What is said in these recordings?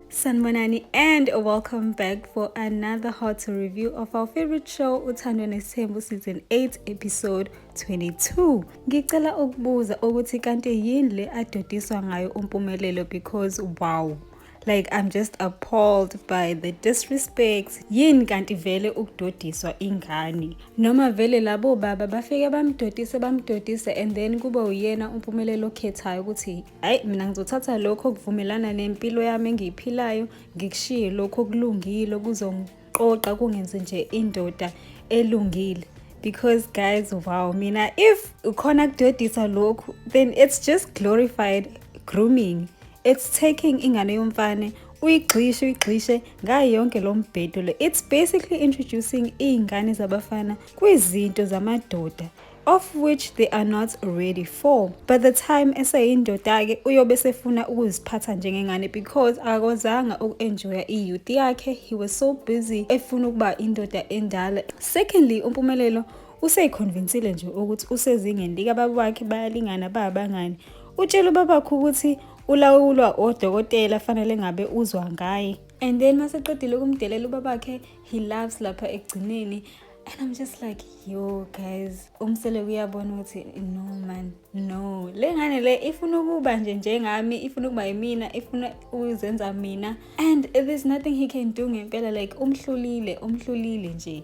Sanibonani and welcome back for another hot review of our favorite show Uthandwe Nesithembu season 8 episode 22. Ngicela ukubuza ukuthi kanti yini le adodiswa ngayo uMpumelelo because wow like i'm just appalled by the disrespect yini kanti vele ukudodiswa ingane noma vele labo baba bafike bamdodise bamdodise and then kube uyena umpumelelo okhethayo ukuthi Hayi mina ngizothatha lokho okuvumelana nempilo yami engiyiphilayo ngikushiye lokho okulungile okuzongiqoqa kungenze nje indoda elungile because guys wow mina if ukhona kudodisa lokhu then it's just glorified grooming it's taking ingane yomfane uyigxishe uyigxishe ngayo yonke lo mbhedo le it's basically introducing iy'ngane zabafana kwizinto zamadoda of which they are not ready for by the time eseyindoda-ke uyobe esefuna ukuziphatha njengengane because akakwazanga uku-enjoya i-youth yakhe he was so busy efuna ukuba indoda endala secondly umpumelelo useyikhonvinsile nje ukuthi usezingeni likababa wakhe bayalingana babangani utshela ubabakho ukuthi ulawulwa odokotela fanele ngabe uzwa ngaye and then maseqedile ukumdelela ubabakhe he loves lapha ekugcineni and i'm just like yo guys umsele kuyabona ukuthi no man no le ngane le ifuna ukuba nje njengami ifuna ukuba yimina ifuna ukuzenza mina and there's nothing he can do ngempela like umhlulile umhlulile nje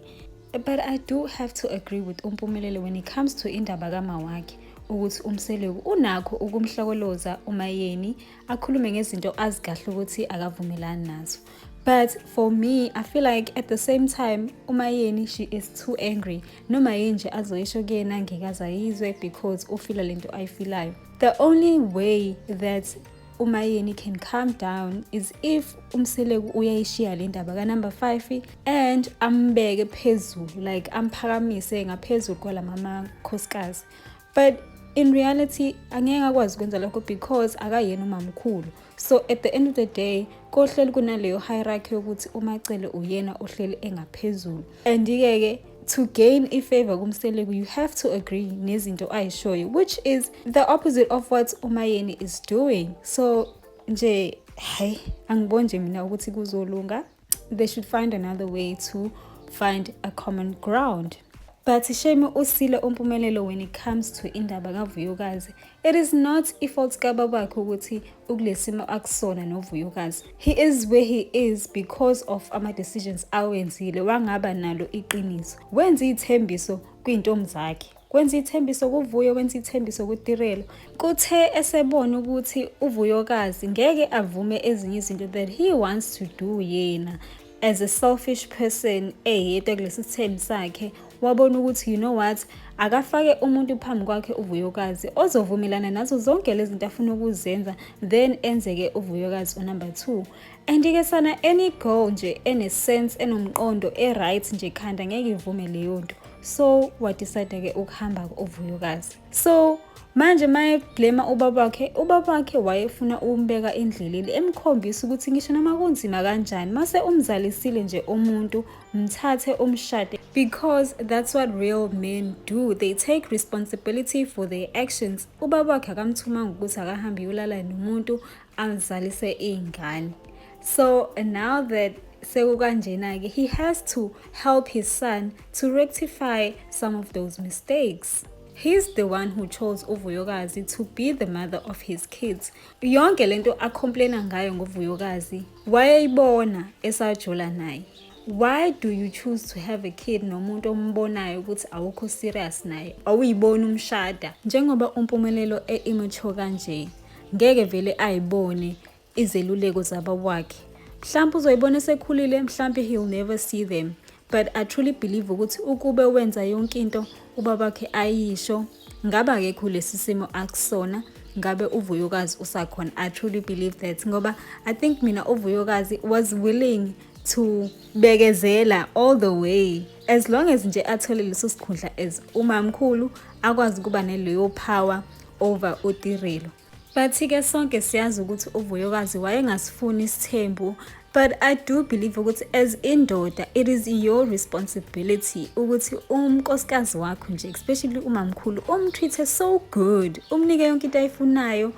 but i do have to agree with umpumelelo when it comes to indaba kama wakhe ukuthi umseleku unakho ukumhlokoloza umayeni akhulume ngezinto azikahle ukuthi akavumelani nazo but for me i feel like at the same time umayeni she is too angry noma yini nje azoyisho kuyena ngekaze ayizwe because ufila lento ayifilayo the only way that umayeni can calm down is if umseleku uyayishiya le ndaba kanumber 5 and ambeke phezulu like amphakamise ngaphezulu kwalama makhosikazi but in reality angeke akwazi ukwenza lokho because akayena umamkhulu so at the end of the day kohleli kunaleyo hierarchy yokuthi umacele uyena ohleli engaphezulu and-ke ke to gain ifavor kumseleku you have to agree nezinto ayishoyo which is the opposite of what umayeni is doing so nje hayi angiboni nje mina ukuthi kuzolunga they should find another way to find a common ground but shame usile umpumelelo when it comes to indaba kavuyokazi it is not ifault kababakhe ukuthi ukulesimo akusona novuyokazi he is where he is because of ama-decisions awenzile wangaba nalo iqiniso wenza iy'thembiso kwiy'ntombi zakhe kwenza ithembiso kuvuyo kwenza ithembiso kutirelo kuthe esebona ukuthi uvuyokazi ngeke avume ezinye izinto that he wants to do yena as a selfish person eyedwa kulesi sithembi sakhe wabona ukuthi you know what akafake umuntu phambi kwakhe uvuyokazi ozovumelana nazo zonke lezi zinto afuna ukuzenza then enzeke uvuyokazi unumber two Andike sana any girl nje ene sense enomqondo e right nje khanda ngeke ivume leyo nto so wadecide ke ukuhamba uvuyokazi so manje mayeblema ubaba wakhe ubaba wakhe wayefuna ukumbeka endleleni emkhombisa ukuthi ngisho noma kunzima kanjani mase umzalisile nje umuntu mthathe umshade because that's what real men do they take responsibility for their actions ubaba wakhe akamthumanga ukuthi akahambe yolala nomuntu angizalise iy'ngane so now that sekukanjena-ke he has to help his son to rectify some of those mistakes He's the one who chose uVuyokazi to be the mother of his kids. Yonke lento acomplaina ngayo ngoVuyokazi wayeyibona esajola naye. Why do you choose to have a kid nomuntu ombonayo ukuthi awukho serious naye? Awuyibona umshada njengoba umpumelelo e-immature kanje. ngeke vele ayibone izeluleko zabawakhe mhlawumbe uzoyibona esekhulile mhlawumbe he'll never see them but i truly believe ukuthi ukube wenza yonke into ubabakhe ayisho ngabe akekho lesi simo akusona ngabe uvuyokazi usakhona i truly believe that ngoba i think mina uvuyokazi was willing to bekezela all the way as long as nje athole leso sikhundla as umamkhulu akwazi ukuba neleyo power over utirelo bathi-ke sonke siyazi ukuthi uvuyokazi wayengasifuni isithembu but i do believe ukuthi as indoda it is your responsibility ukuthi umnkosikazi wakho nje especially umamkhulu umtreat-e so good umnike yonke into ayifunayo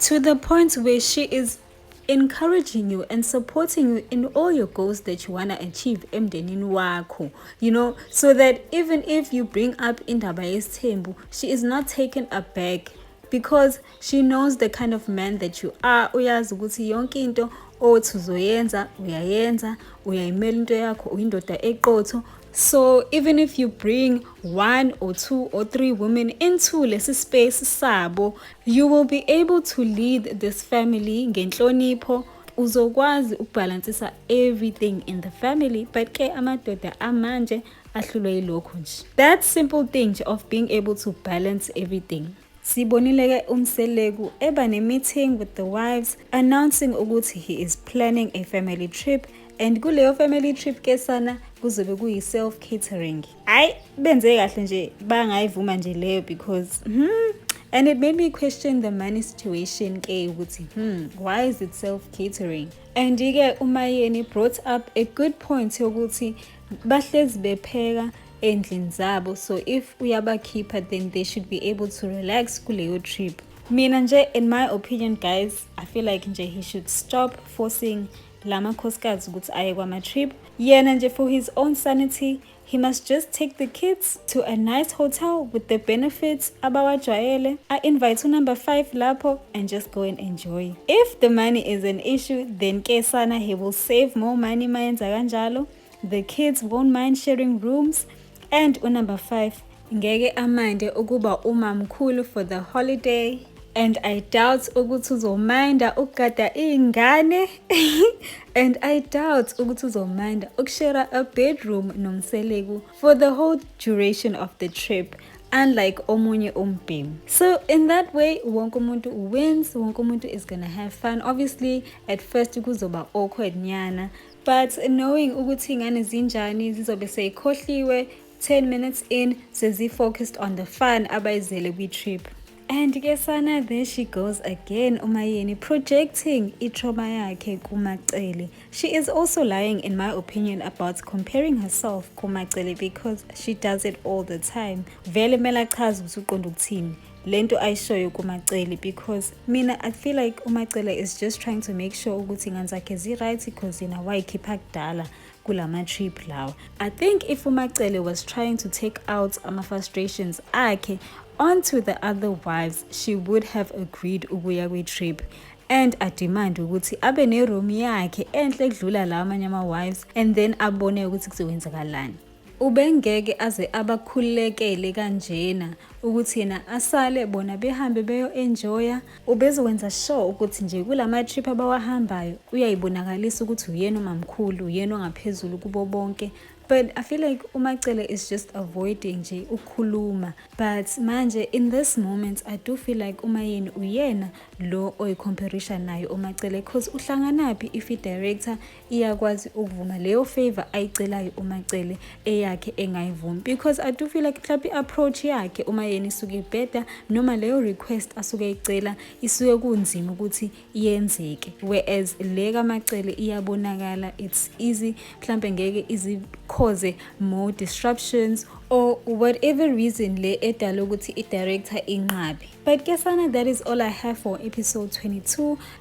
to the point where she is encouraging you and supporting you in all your goals that you want to achieve emndenini wakho you know so that even if you bring up indaba yesithembu she is not taken aback because she knows the kind of man that you are uyazi ukuthi yonke into othi uzoyenza uyayenza uyayimela into yakho uyindoda eqotho So even if you bring one or two or three women into lesi space sabo, you will be able to lead this family ngenhlonipho uzokwazi ukubhalansisa everything in the family but ke amadoda amanje ahlulwe yilokho nje that simple thing of being able to balance everything Sibonile ke uMseleku eba ne-meeting with the wives announcing ukuthi he is planning a family trip and kuleyo family trip ke sana kuzobe kuyi-self catering hhayi benze kahle nje bangayivuma nje leyo because hmm, and it made me question the money situation ke ukuthi hmm, why is it self catering and-ke umayeni brought up a good point yokuthi bahlezi bepheka endlini zabo so if uyabakhipha then they should be able to relax kuleyo trip mina nje in my opinion guys i feel like nje he should stop forcing la makhosikazi ukuthi aye kwama-trip yena nje for his own sanity he must just take the kids to a nice hotel with the benefits abawajwayele a-invite unumber 5 lapho and just go and enjoy if the money is an issue then ke sana he will save more money mayenza kanjalo the kids won't mind sharing rooms and unumber 5 ngeke amande ukuba umamkhulu for the holiday and i doubt ukuthi uzominda ukugada iy'ngane and i doubt ukuthi uzominda ukushera a bedroom nomseleku for the whole duration of the trip unlike omunye umbhemu so in that way wonke umuntu wins wonke umuntu is gonna have fun obviously at first kuzoba awkward nyana but knowing ukuthi ingane zinjani zizobe seyikhohliwe 10 minutes in sezi-focused on the fun abayizele kwi-trip And ke sana there she goes again uMayeni projecting itrauma yakhe kuMacele. She is also lying in my opinion about comparing herself kuMacele because she does it all the time. Vele mela chaza ukuthi uqonda ukuthini. lento ayishoyo kuMacele because mina I feel like uMacele is just trying to make sure ukuthi ingane zakhe zi right because yena wayikhipha kudala kulama trip lawa i think if umacele was trying to take out ama frustrations akhe onto the other wives she would have agreed ukuya kwi trip and ademand ukuthi abe ne room yakhe enhle kudlula lawa amanye ama wives and then abone ukuthi kuzokwenzakalani ubengeke aze abakhulekele kanjena ukuthi yena asale bona behambe beyo enjoya Ubezowenza sure ukuthi nje kulama trip abawahambayo uyayibonakalisa ukuthi uyena umamkhulu, uyena ongaphezulu kubo bonke. But I feel like uMacele is just avoiding nje ukukhuluma. But manje in this moment I do feel like uMayeni uyena lo oyicomparison nayo uMacele because uhlanganaphi if i-director iyakwazi ukuvuma leyo favor ayicelayo umacele eyakhe engayivumi because i do feel like mhlawumbe i-approach yakhe uma yena isuke ibheda noma leyo request asuke eyicela isuke kunzima ukuthi yenzeke whereas le kamacele iyabonakala it's easy mhlawumbe ngeke izikhoze more disruptions or whatever reason le edala ukuthi i-director inqabe but kesana that is all i have for episode 22